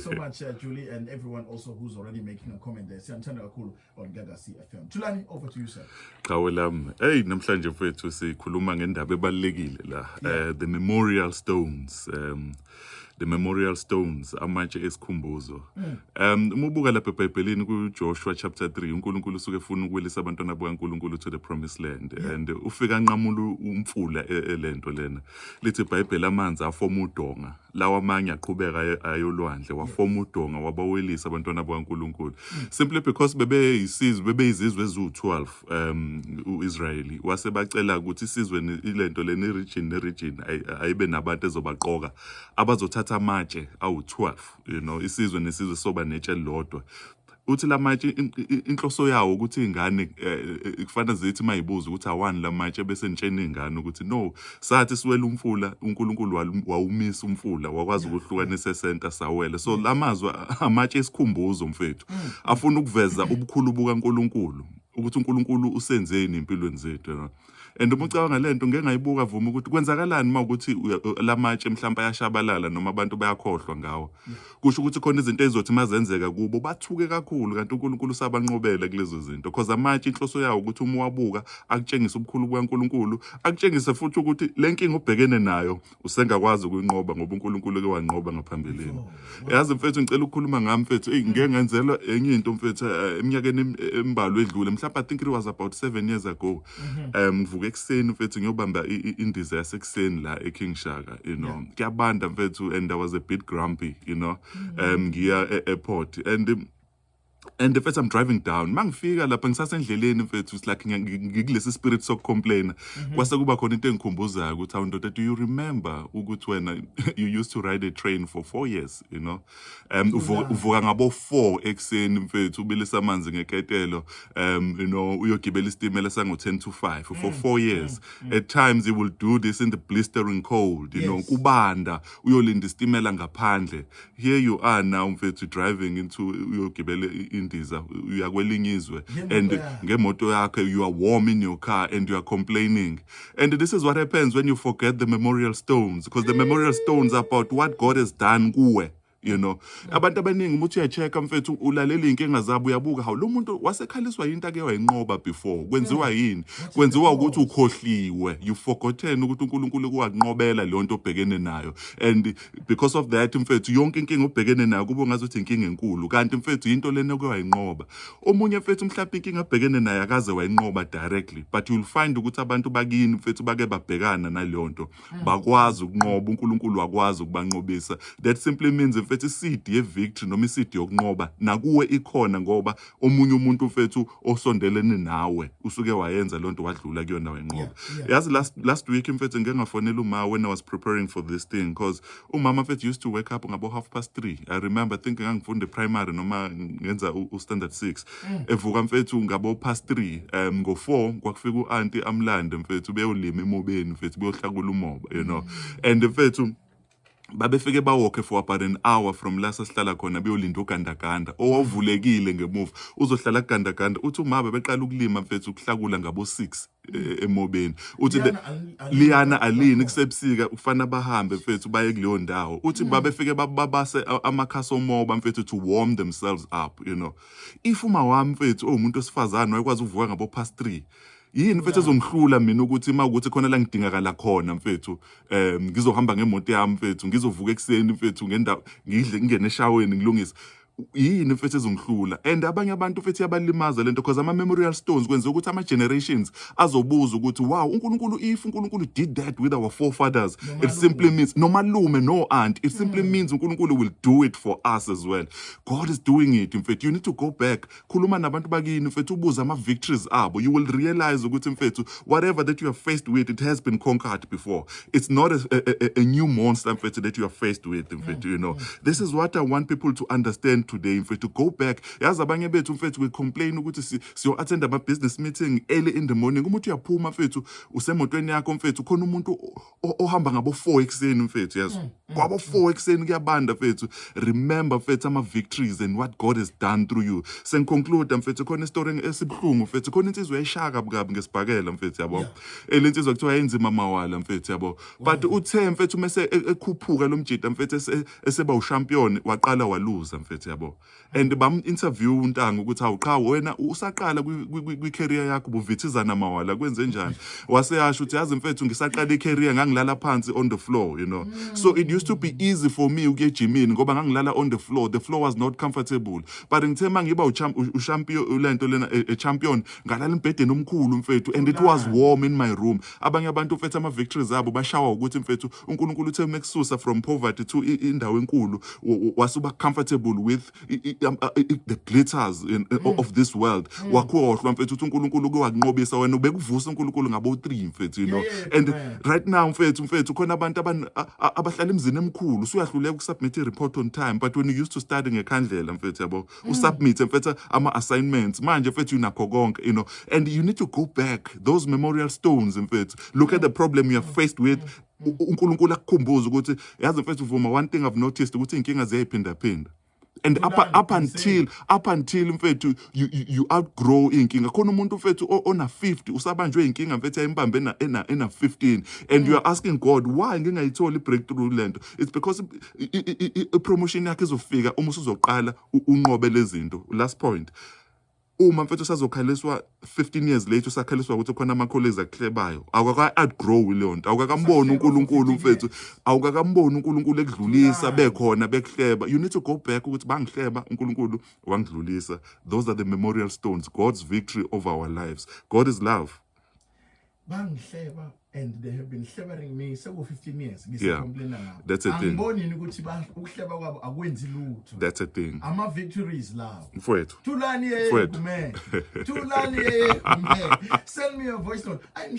so much uh, Julie and everyone also who's already making a comment there siyanithanda kakhulu on Gaga CFM Tulani over to you sir Qhawe lam hey namhlanje mfethu sikhuluma ngendaba ebalekile la yeah. uh, the memorial stones um the memorial stones amatshe esikhumbuzo mm. um uma ubuka lapha ebhayibhelini kujoshua chapter 3 unkulunkulu usuke efuna ukuwelisa abantwana bukankulunkulu to the promised land yeah. and ufika anqamula umfula e, e, le nto lena lithi ibhayibheli amanzi afoma udonga lawa amanye aqhubeka aye- ayolwandle wafoma udonga wabawelisa abantwana bakaNkulunkulu simply because bebeyisizwe bebeyizizwe eziwu-12 um u-Israyeli wase bacela ukuthi isizwe ni- ilento leni region ne region ayi- ayibe nabantu ezobaqoka abazothatha amatshe awu-12 you know isizwe nesizwe soba netshe elilodwa uthi la matshe inhloso yawo ukuthi ingane eh, eh, kufanele zithi mayibuza ukuthi awani la matshe bese nitshena ingane ukuthi no sathi siwela umfula uNkulunkulu wawumisa umfula wakwazi ukuhlukanisa esenta sawele so la mazwi amatshe esikhumbuzo mfethu mm. afuna ukuveza ubukhulu bukaNkulunkulu ukuthi uNkulunkulu usenzeni empilweni zethu and uma ucabanga le nto ngeke ngayibuka vuma ukuthi kwenzakalani uma ukuthi la matshe mhlawumpe ayashabalala noma abantu bayakhohlwa ngawo kusho ukuthi khona izinto ezizothi uma zenzeka kubo bathuke kakhulu kanti unkulunkulu usabanqobele kulezo zinto cause amatshe inhloso yawo ukuthi uma uwabuka akutshengise ubukhulu bukankulunkulu akutshengise futhi ukuthi le nkinga ubhekene nayo usengakwazi ukuyinqoba ngoba uNkulunkulu ke wanqoba ngaphambilini yazi mfethu ngicela ukukhuluma ngami mfethu hey ngeke ngenzelwa enye into mfethu eh, eminyakeni em- embalwa edlule mhlawumbe i think it was about 7 years ago um ngivuka ekuseni mfethu ngiyobamba i- i- indiza yasekuseni la eKing Shaka you know kuyabanda mfethu and I was a bit grumpy you know um ngiya e-airport and um, and the first I'm driving down mangifika lapha ngisasendleleni mfethu it's like ngikulesi spirit sokucomplaina mhm. kwase kuba khona into engikhumbuzayo ukuthi awundoda do you remember ukuthi wena you used to ride a train for 4 years you know um uvuka ngabo 4 ekseni mfethu ubilisa amanzi ngeketelo um you know uyogibela isitimela sango 10 to 5 for 4 mm, mm, years mm. at times you will do this in the blistering cold you know kubanda uyolinda isitimela ngaphandle here you are now mfethu driving into uyogibela indiza uya kwelinye izwe and ngemoto yakhe you are warm in your car and you are complaining and this is what happens when you forget the memorial stones because the memorial stones are about what god has done kuwe you know abantu abaningi umuthi uyacheck mfethu ulalela inkinga zabo uyabuka hawu lo muntu wasekhaliswa yinto ake wayinqoba before kwenziwa yini kwenziwa ukuthi ukhohliwe you forgotten ukuthi uNkulunkulu kuwanqobela le nto obhekene nayo and because of that mfethu yonke inkinga obhekene nayo kube ngazuthi inkinga enkulu kanti mfethu into lena oke wayinqoba omunye mfethu mhlawumbe inkinga abhekene nayo akaze wayinqoba directly but you'll find ukuthi abantu bakini mfethu bake babhekana naleyo nto mm. bakwazi ukunqoba uNkulunkulu wakwazi ukubanqobisa that simply means mfethu isidi ye victory noma isidi yokunqoba nakuwe ikhona ngoba omunye umuntu mfethu osondelene nawe usuke wayenza lento wadlula kuyona wenqoba yeah, yeah. yazi last, last week mfethu ngike ngafonela uma when i was preparing for this thing because umama mfethu used to wake up ngabo half past three i remember think ngangifunda primary noma ngenza ustandard six mm. evuka mfethu ngabo past three um ngo-four kwakufika u-anti amlande mfethu beyolima emobeni mfethu beyohlakula umoba you know mm. and mfethu babefike bawokhe for about an hour from la sasihlala khona beyolinda ugandaganda owavulekile ngemuva uzohlala kugandaganda uthi uma bebeqala ukulima mfethu ukuhlakula ngabo 6 eh, emobeni uthi liyana alini kusebusika ufana bahambe mfethu baye kuleyo ndawo uthi hmm. babefike babase amakhasi omoba mfethu to warm themselves up you know if uma wami mfethu owumuntu osifazane wayekwazi uvuka ngabo past 3 yini mfethu ezongihlula mina ukuthi uma ukuthi khona la ngidingakala khona mfethu um ngizohamba ngemoto yami mfethu ngizovuka ekuseni mfethu ngendawo ngidle ngingene eshaweni ngilungise yini mfethu ezongihlula and abanye abantu mfethu yabalimaza lento because ama memorial stones kwenza ukuthi ama generations azobuza ukuthi wow uNkulunkulu if uNkulunkulu did that with our forefathers it simply means no malume no aunt it simply mm. means uNkulunkulu will do it for us as well god is doing it mfethu you need to go back khuluma nabantu bakini mfethu ubuze ama-victories abo you will realize ukuthi mfethu whatever that you are faced with it has been conquered before it's not a, a, a, a new monster mfethu that you are faced with mfethu you know this is what i want people to understand today mfethu go back yazi abanye bethu mfethu we complain ukuthi siyo-attend ama-business meeting early in the morning umuthi uyaphuma mfethu usemotweni yakho mfethu khona umuntu ohamba ngabo 4 ekseni mfethu yazi mm, mm, kwabo 4 mm. ekseni kuyabanda mfethu remember mfethu ama victories and what God has done through you sen conclude mfethu khona story esibuhlungu mfethu khona insizwe yayishaka bukabi ngesibhakela mfethu yabo elensizwe eh, kuthiwa yenzima mawala mfethu yabo but uthe mfethu mase e, ekhuphuka lomjita mfethu eseba uchampion waqala waluza mfethu yabo and bam-interview untanga ukuthi awu qha wena usaqala kwi-career yakho ubuvithizana mawala kwenze njani waseyasho ukuthi yazi mfethu ngisaqala i-career ngangilala phansi on the floor you know mm. so it used to be easy for me ukuya ejimini ngoba ngangilala on the floor the floor was not comfortable but ngithe uma ngiba ushampion lento lena e-, e-, champion ngalala embhedeni omkhulu mfethu and it was warm in my room abanye abantu mfethu ama victories abo bashawa ukuthi mfethu uNkulunkulu uthe mekususa from poverty to indawo enkulu wasuba comfortable with um, uh, the glitters in, uh, mm. of this world mm. wakhohlwa mfethu uthi uNkulunkulu uke wakunqobisa wena ubekuvusa uNkulunkulu ngabo 3 mfethu you know and right now mfethu mfethu khona abantu abahlala emzini emkhulu usuyahluleka ukusubmit i report on time but when you used to study ngekhandlela mfethu yabo mm. usubmit mfethu ama assignments manje mfethu unakho konke you know and you need to go back those memorial stones mfethu look at the problem you are faced with mm. uNkulunkulu akukhumbuza ukuthi yazi mfethu vuma one thing i've noticed ukuthi inkinga ziyayiphinda phinda and up, up until up until mfethu you, you, you outgrow inkinga khona umuntu mfethu ona 50 usabanjwe inkinga mfethu ayimbambe ena ena 15 and mm. you are asking god why ngingayitholi breakthrough lento it's because ipromotion yakhe izofika uma usuzoqala unqobe lezinto last point uma mfethu sazokhaliswa 15 years later usakhaliswa ukuthi khona ama-colleges akuhlebayo awukaka-outgrow leyo nto awukakamboni unkulunkulu mfethu awukakamboni unkulunkulu ekudlulisa bekhona bekuhleba you need to go back ukuthi bangihleba unkulunkulu wangidlulisa those are the memorial stones god's victory over our lives god is love bangihleba and they have been hlebering me seku 15 years ngisicomplaina yeah. ngabo that's a thing angiboni yini ukuthi ba ukuhleba kwabo akwenzi lutho that's a thing ama victories lawo mfowethu thulani yeye kume thulani yeye kume send me a voice note I'm